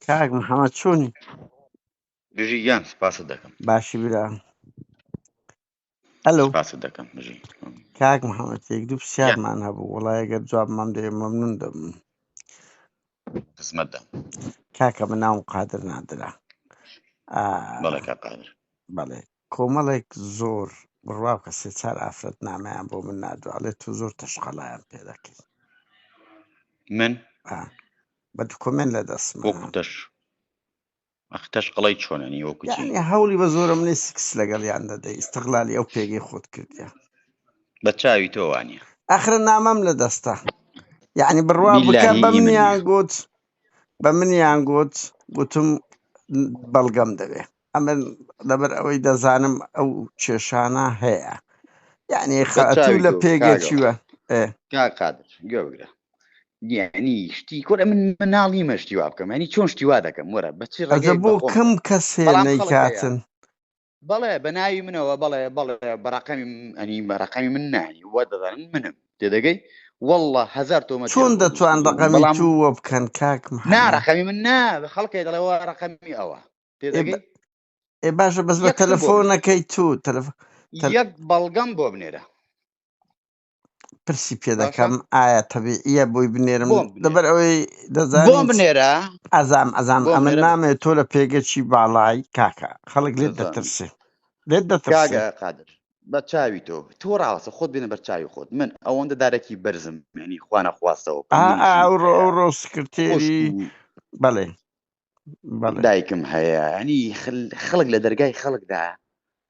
کاک محەممەد چۆنی بژی گیان سپاست دەکەم باشی برا هەلو سپاست دەکەم بژی کاک محەممەد یەک دوو پرسیارمان هەبوو وڵای گەر جواب مام دەێ مەمنون دەم خزمەتدا کاکە من ناوم قادر نادرا بەڵێ بەڵێ کۆمەڵێک زۆر بڕوا بکە سێ چار ئافرەت نامەیان بۆ من نادو ئەڵێ تو زۆر تەشقەڵایان پێ دەکەی من بە دکۆمێن لە دەستم وەکو تەش ئەخ تەشقەڵی چۆنەنی وەکو چی یعنی هەوڵی بە زۆرە منی سکس لەگەڵیان دەدەی ئیستغلالی ئەو پێگەی خۆت کردیە بە چاوی تۆ وانە ئاخرە نامەم لە دەستە یعنی بڕوا بکە باللهی بە ئیمن منیان نییە گوت بە منیان گوت گوتم بەڵگەم دەوێ ئەمن لەبەر ئەوەی دەزانم ئەو کێشانە هەیە یعنی خاتوو لە پێگەچوە قادر گەورە دیعنی شتی کۆرە من مناڵی مەشتی وا بکەم ینی چۆن شتیوا دەکەم وەرە بەچی ڕێگە بۆ کەم کەسێ نەیکاتن بەڵێ بە ناوی منەوە بەڵێ بەڵێ بەڕقەمی ئەنی بەڕقەمی من نانی وە دەدەن منم تێدەگەی والله هزار تۆ چۆن دەتوان ڕقەمی تووە بکەن کاکم ناڕقەمی من نا خەڵکی دەڵێەوە ڕقەمی ئەوە پێدەگەی ئێ باشە بەس بە یەک شت بۆ تەلەفۆنەکەی تو تەلەف تەل- یەک بەڵگەم بۆ بنێرە پرسی پێ باشە دەکەم ئایا تەبیعیە بۆی بنێرم بۆم بنێرە لەبەر ئەوەی بۆم دەزانین چ- بنێرە ئازام ئازام بۆم ئەمن بنێرە بە نامێ تۆ لە پێگەچی باڵای کاکە خەڵک لێت دەزانم دەترسێ لێت دەترسێ کاگە قادر بە چاوی تۆ تۆ ڕاوەسە خۆت بێنە بەر چاوی خۆت من ئەوەندە دارەکی بەرزم مێنی خوانە خواستەوە ئا ئا پەیمنی ژنم ئەوڕۆ هەیە ئەوڕۆ خوشک سکرتێری و بەڵێ دایکم هەیە ینی خەڵک لە دەرگای خەڵکدا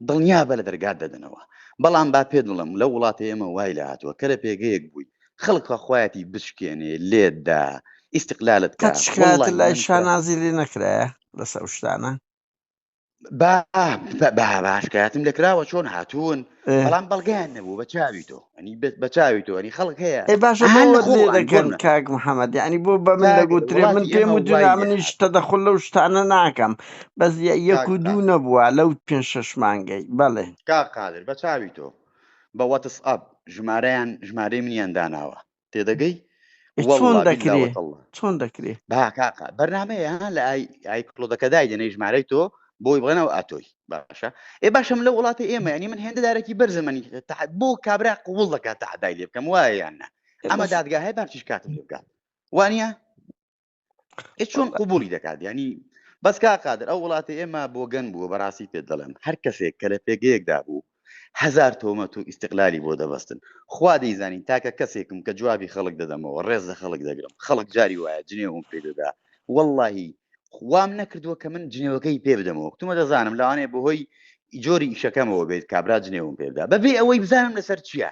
دڵنیا بە لە دەرگات دەدەنەوە بەڵام با پێ دڵم لە وڵاتە ئێمە وای لە هاتووە کە لە پێگەیەک بووی خەڵکە خۆیەتی بشکێنێ لێدا ئیسقلالت کات شکایەت لای شانازی لێ نەکرایە لەسەر شتانە باشکاتم لەکراوە چۆن هاتوون بەڵام بەڵگەیان نەبوو بە چاوی تۆ ئەنی بە چاوی تۆ ئەنی خەڵک هەیە باش دەکەن کاک محەممەد ینی بۆ بە من دەگوترێ من پێم و دونا منیش تەدەخل لەو شتانە ناکەم بەس یەک و دوو نەبووە لەو پێ شەش مانگەی بەڵێ کا قادر بە چاوی تۆ بە وەتس ئەپ ژمارەیان ژمارەی منیان داناوە تێدەگەی چۆن دەکرێ چۆن دەکرێ باکاقا بەرنمەیە لە ئایکلۆدەکە دایدەنەی ژمارەی تۆ بۆی بڵێنەوە ئاتۆی باشە ئێ باشم لە وڵاتی ئێمە ینی من هێندە دارێکی بەرزمەنی بۆ کابرا قوڵ دەکات تەحدای لێ بکەم وایەیاننا ئەمە دادگا هەیە بارچیش کاتم لێ بکات وانە چۆن قوبولی دەکات ینی بەس کا قادر ئەو وڵاتی ئێمە بۆگەن بووە بەڕاستی پێ دەڵێن هەر کەسێک کە لە پێگەیەکدا بوو هزار تۆمەت و ئیسیقلالی بۆ دەبستن خوا دەیزانین تاکە کەسێکم کە جوابی خەڵک دەدەمەوە ڕێز لە خەڵک دەگرم خەڵک جاری وایە جنێوم پێ دەدا واللهی خوام نەکردووە کە من جنێوەکەی پێ بدەمەوە کتومە دەزانم لەوانێ بەهۆی جۆری ئیشەکەمەوە بێت کابرا جنێوم پێدا بەبێ ئەوەی بزانم لەسەر چییە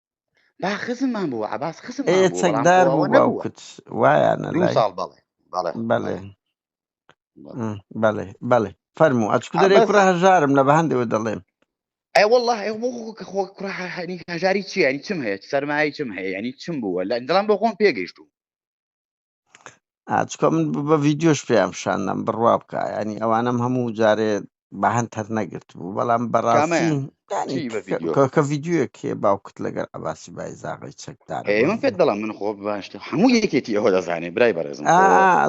با خزممان بوو عباس خزم چەکدار بوو باوکت وایانە ساڵ بەڵێ بەڵێ بەڵێ بەڵێ فەرمو ئەچکو دەرێ کوڕە هەژارم لە بە هەندەوە دەڵێم ئەی والله کە خۆ کوڕە هەنی هەژاری چیانی چم هەیە سەرمایە چم هەیە ینی چم بووە لە دڵم بۆ خۆم پێگەیشتوو ئاچکە من بە ڤیددیۆش پێیان پیشاندەم بڕوا بکە ینی ئەوانم هەموو جارێ بەهند تەر نەگرت بوو بەڵام بەڕاستی کە ڤیددیوەک هەیە باوکت لەگەر عباسی بای زاغی چەکدار من پێت دەڵام من خۆ باشت هەموو یەکێتی ئەوە دەزانێ برای بەڕێزم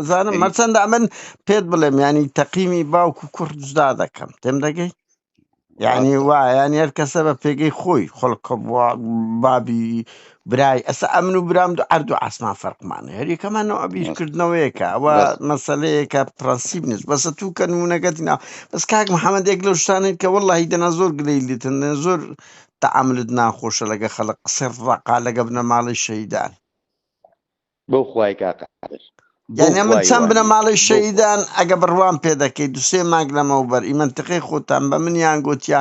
زانم مەرچەندە من پێت بڵێم ینی تەقیمی باوک و کوڕ جدا دەکەم تێم دەگەی یعنی ڕاستە وایە یعنی هەر کەسە بە پێگەی خۆی خەڵکە بوا بابی برای ئەسا ئەمن و برام دو ئەرد و ئاسمان فەرقمانە هەر یەکەمان نەوە بیر ڕاست کردنەوەیەکە ئەوە ڕاست مەسەلەیەکە پرەنسیپ نیست بەسە تو کە نمونەکەت نا بەس کاک محەممەد یەک لەو شتانێت کە وەڵی دەنا زۆر گلەی لێتن زۆر تەعاملت ناخۆشە لەگە خەڵک قسە ڕەقە لەگە بنەماڵەی شەیدان بەو خوای کاقە یانە من چەند بنە ماڵی شەیدان ئەگە بڕوان پێ دەکەیت دوسێ ماگ لەمەوبەر ئی منتقی خۆتان بە منیان گوتیا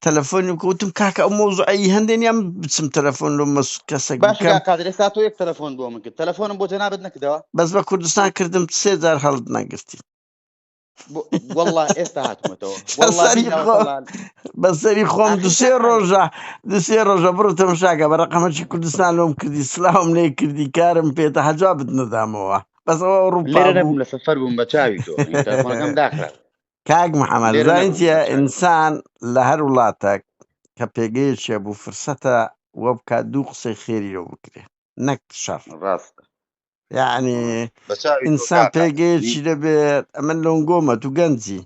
تەلەفۆنی و کوتم کاکە ئەو مۆزعی هەندێن یان بچم تەلەفۆن لە مەس کەسێک قادرێ ساات یەک تەلەفۆن بۆ من کرد تەلەفۆنم بۆ جەنابەت نەکردەوە بەس بە کوردستان کردم سێ جار هەڵت نەگرتی والله ئێستا هاتمەتەوە بە سەری خۆم دوسێ ڕۆژە دوسێ ڕۆژە بڕ تەمشاکە بە ڕقەمەکی کوردستان لۆم کردی سلااوم لێ کردی کارم پێێتە هەجا بدنەدامەوە بەسەوە ڕووپێ لە سەفەر بووم بە چاوی تۆم داخرا کاک محەممەد زانتە ئینسان لە هەر وڵاتێک کە پێگەیەکێ بوو فرسەتە وە بکات دوو قسەی خێری لەو بکرێ نەک شەر ڕاستە یعنی بە چاوی تۆ ئینسان کاکە پێگەیەکی دەبێت ئەمە لۆنگۆمە تو گەنجی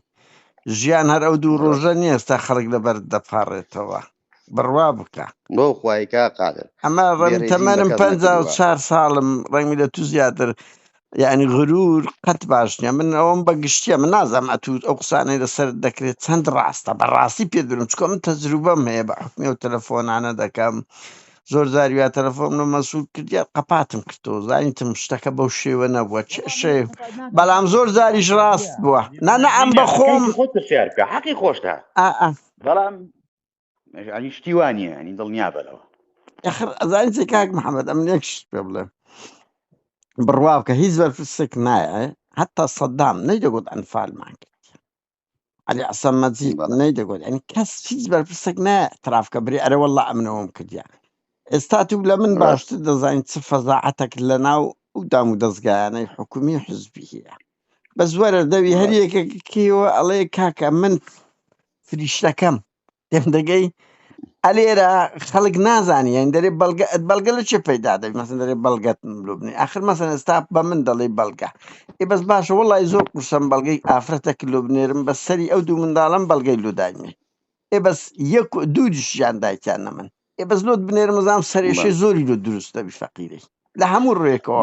ژیان هەر ئەو دوو بەڕێز ڕۆژە نییە ئێستا خەڵک لەبەر دەپاڕێتەوە بڕوا بکە بۆ خوای کا قادر ئەمە ڕەنگ بێڕێزیم بە تەمەنم کەس پەنجا و نەکردووە چار ساڵم ڕەنگی لە تو زیاتر یعنی غرور قەت باش نییە من ئەوەم بە گشتیە من نازانم ئەتوو ئەو قسانەی لەسەر دەکرێت چەند ڕاستە بەڕاستی پێت بلم چکۆ من تەجروبەم هەیە بە حکمی و تەلەفۆنانە دەکەم زۆر جار یا تەلەفۆم لە مەسوول کرد یا قەپاتم کردەوە زانیتم شتەکە بەو شێوە نەبووە چێشێ بەڵام زۆر جاریش ڕاست بووە نانە ئەم بە خۆم خۆت پرسیار بکە حەقی خۆشتا بەڵام ئەنی شتیوانە ئەنی دڵنیا بەرەوە ئەخر ئەزانین چێ کاک محەممەد ئەم نێکش پێ بڵێ بڕوا بکە هیچ بەرپرسێک نایە هەتا سەددام نەیدەگوت ئەنفالمان کرد علی عسام مەجید بەڵێ نەی دەگوت ئەنی کەس هیچ بەرپرسێک نە ترافکە بری ئەرە والله ئەمنەوەم کردیا ئێستا تو لە من ڕاست باشتر دەزانین چ فەزاعەتەک لە ناو ئەو دام و دەستگایانەی حکومی و حزبی هەیە بەس وەرە دەوی هەر ڕاست یەکێکیەوە ئەڵێ کاکە من فریشتەکەم دەگەی ئەلێرە خەڵک نازانانی یان دەێ بەڵگە بەڵگە لە چێ پەیدا دەبی مەسن دەێ بەڵگەت ملوبنی آخر مەسن ئێستا بە من دەڵی بەڵگە ئی بەس باشە وڵی زۆر قوسم بەڵگەی ئافرەتە کللوبنێرم بە سەری ئەو دوو منداڵم بەڵگەی لوداینێ ئێ بەس یەک دوو دشیان دایکیان نە من ئێ بەس لۆت بنێرمزانام سەرێشی زۆری لۆ دروست دەبی فەقیری لە هەموو ڕێکەوە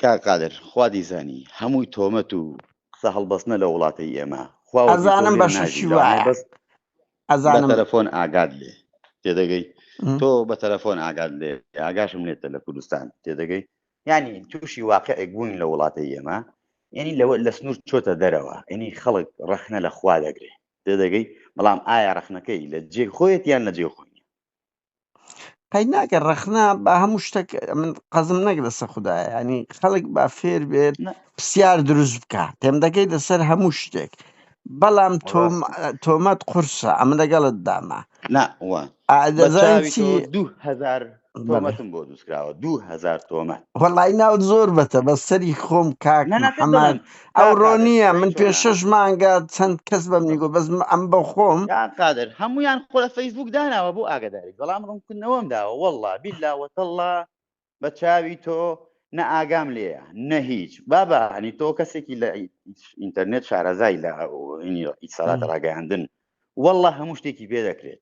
کاک قادر خوا دیزانی هەمووی تۆمەت و قسە هەڵبەستنە لە وڵاتەی ئێمە خوا وەکی تۆ ئەزانم لێ بەشەشی ناژی لەوانەیە وایە بەس بە ئەزانم تەلەفۆن ئاگات لێ تێدەگەی م. تۆ بە تەلەفۆن ئاگات لێ ئاگاشم لێتە لە کوردستان تێدەگەی یعنی تووشی واقعێک بوونی لە وڵاتەی ئێمە یعنی لەوە لە سنوور چۆتە دەرەوە یعنی خەڵک ڕەخنە لە خوا دەگرێ تێدەگەی بەڵام ئایا ڕەخنەکەی لە جێ خۆیەت یان لە جێ خۆی نیە؟ قەی ناکە ڕەخنا بە هەموو شتێک من قەزم نەک لەسە خدایە ینی خەڵک با فێر بێت پرسیار دروست بکە تێم دەکەیت لەسەر هەموو شتێک بەڵام تۆمەت قورسە ئەمە لەگەڵت دامە ناوە دوهزار تۆمەتم بۆ دووسکراوە دوهزار تۆمە وڵی ناوت زۆر بەتە بە سەری خۆم کاک ئەوڕۆ نییە من پێ شش مانگە چەند کەس بەم نیگو بەس ئەم بە خۆم قادر هەمویان خۆ لە فەیسبوک داناوە بۆ ئاگداری بەڵام ڕوونکردنەوەم داوە والله بیللا وەتەڵا بە چاوی تۆ نە ئاگام لێە نە هیچ بابا هەنی تۆ کەسێکی لە ئینتەرنێت شارەزای لە ئیسالات ڕاگەیاندن والله هەموو شتێکی بێ دەکرێت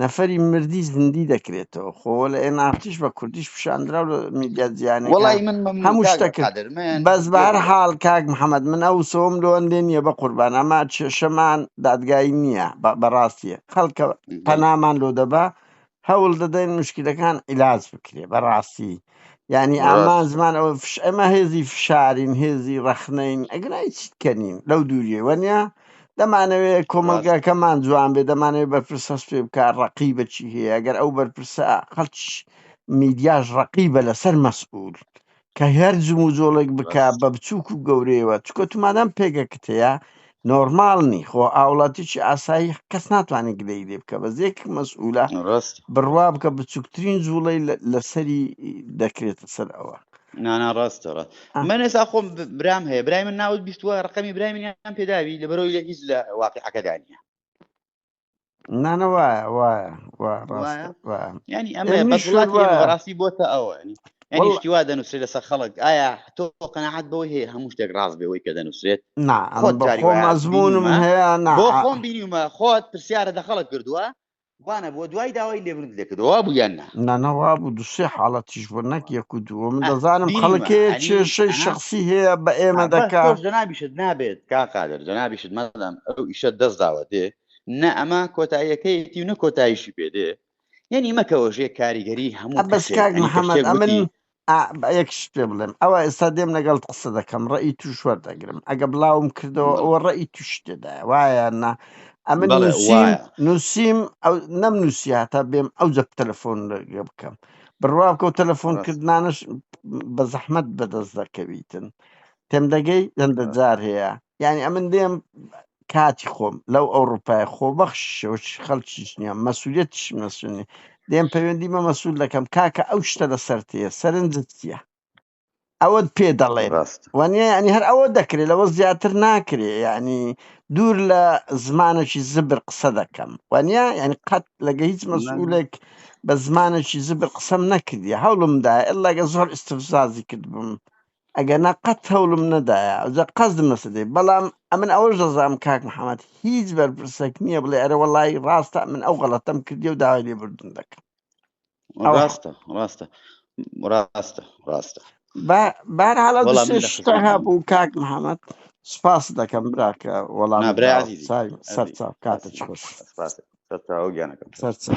نەفەری مردی زندی دەکرێتەوە خۆ لە ئێنافتیش بە کوردیش پیشاندرا و میدیا جیانەکان هەموو شتەکرد بەس بە هەر حاڵ کاک محەممەد من ئەو سۆم لۆندێ نییە بە قوربان ئەما کێشەمان دادگای نییە بەڕاستیە خەڵکە پەنامان لۆ دەبا هەوڵ دەدەین مشکلەکان عیلاج بکرێ بەڕاستی یعنی ئامان زمان ئەوە فش ئەمە هێزی فشارین هێزی ڕەخنەین ئەگرای چیت کەنین لەو دووریە وەنیا دەمانەوێت کۆمەلگاکەمان جوان بێ دەمانێت بەرپرس هەست پێ بکە ڕقی بەچی هەیە ئەگەر ئەو بەرپرسە قەچ میدیاش ڕقیبە لەسەر مەسئول کە هەر جم و جۆڵێک بک بە بچووک و گەورەیەوە چکۆ تومادەم پێگەکت هەیە نۆرمال نی خۆ ئاوڵاتیی ئاسایی کەس ناتوانێت گلەیی لێ بکە بەس یەک مەسئوولە ڕاست بڕوا بکە بچووکترین جووڵەی لە- لەسەری دەکرێتە سەر ئەوە نانا ڕاستە ڕاست آه. من ئێستا خۆم ب- برام هەیە برای من ناوت بیستووە ڕقەمی برای منیان پێداوی لەبەرەوەی لە هیچ لە واقعەکەدا نییە نانە وایە وایە ینی ئەمە بەڕاستی بۆتە ئەوە شتی وا دەنووسێت لەسەر خەڵک ئایا تۆ قەنەعات بەوەی هەیە هەموو شتێک ڕاست بەوەی کە دەنووسێت مەزمونم هەیە بۆ خۆم بینیمە خۆت پرسیارە دە خەڵک کردووە وانە بۆ دوای داوای لێبرد لێکردەوە بوو یان نا نانا وابوو دوسێ حاڵەتیش بۆ نەک یەک و دووە من دەزانم خەڵکێ چێشەی شخصی هەیە بە ئێمە دەکا جەنابیشت نابێت کا قادر جەنابیشت مەدەم ئەو ئیشە دەست داوە دێ نە ئەمە کۆتاییەکەیەتی و نە کۆتایشی پێ دێ یعنی مەکەوەژێ کاریگەری هەموو بەس کاک محەممەد ئەمن ئا با یەک شت پێ بڵێم ئەوە ئێستا دێم لەگەڵت قسە دەکەم ڕێی توش وەردەگرم ئەگە بڵاوم کردەوە بڵێ ئەوە ڕێی توش تێدایە وایە نا ئەمن بەڵێ نووسیم وایە نووسیم ئەو نەم نووسی هاتا بێم ئەو جەب تەلەفۆن لەگە بکەم بڕوا بکەو تەلەفۆن ڕاست کردنانەش بە زەحمەت بەدەست دەکەویتن تێم دەگەی هەندە ڕاست جار هەیە یانی ئەمن دێم کاتی خۆم لەو ئەوروپای خۆبەخش خەڵکیش نیە مەسوولەتیش مەسونی دێم پەیوەندی مە مەسوول دەکەم کاکە ئەو شتە لە سەرتەیە سەرنجت چیە ئەوەت پێ دەڵێ ڕاست وانە ینی هەر ئەوە دەکرێت لەوە زیاتر ناکرێ ینی دوور لە زمانەکی زبر قسە دەکەم وانە ینی قەت لەگە هیچ مەسئولێک بە زمانەکی زبر قسەم نەکردی هەوڵمدا ئللاگە زۆر استفزازی کردبووم ئەگەرنا قەت هەوڵم نەدایە ئەوجا قەسدم لەسەر دێ بەڵام ئەمن ئەوەش دەزانم کاک محمد هیچ بەرپرسێک نییە بڵێ ئەرێ وەڵای ڕاستە من ئەو غەڵەتەم کردی و داوای لێبوردن دەکەم ئەوە ڕاستە ڕاستە ڕاستە ڕاستە با بارحاڵە وەڵام من دەشێ لە شتە خزمەتتان هەبوو کاک محمد سپاس دەکەم براکە وەڵام نا برای داوە عزیزی سای سەر عزیز چاو کاتە بەسی چ خۆش سپاس سەرچاوە گیانەکەم سەر سەر چاو.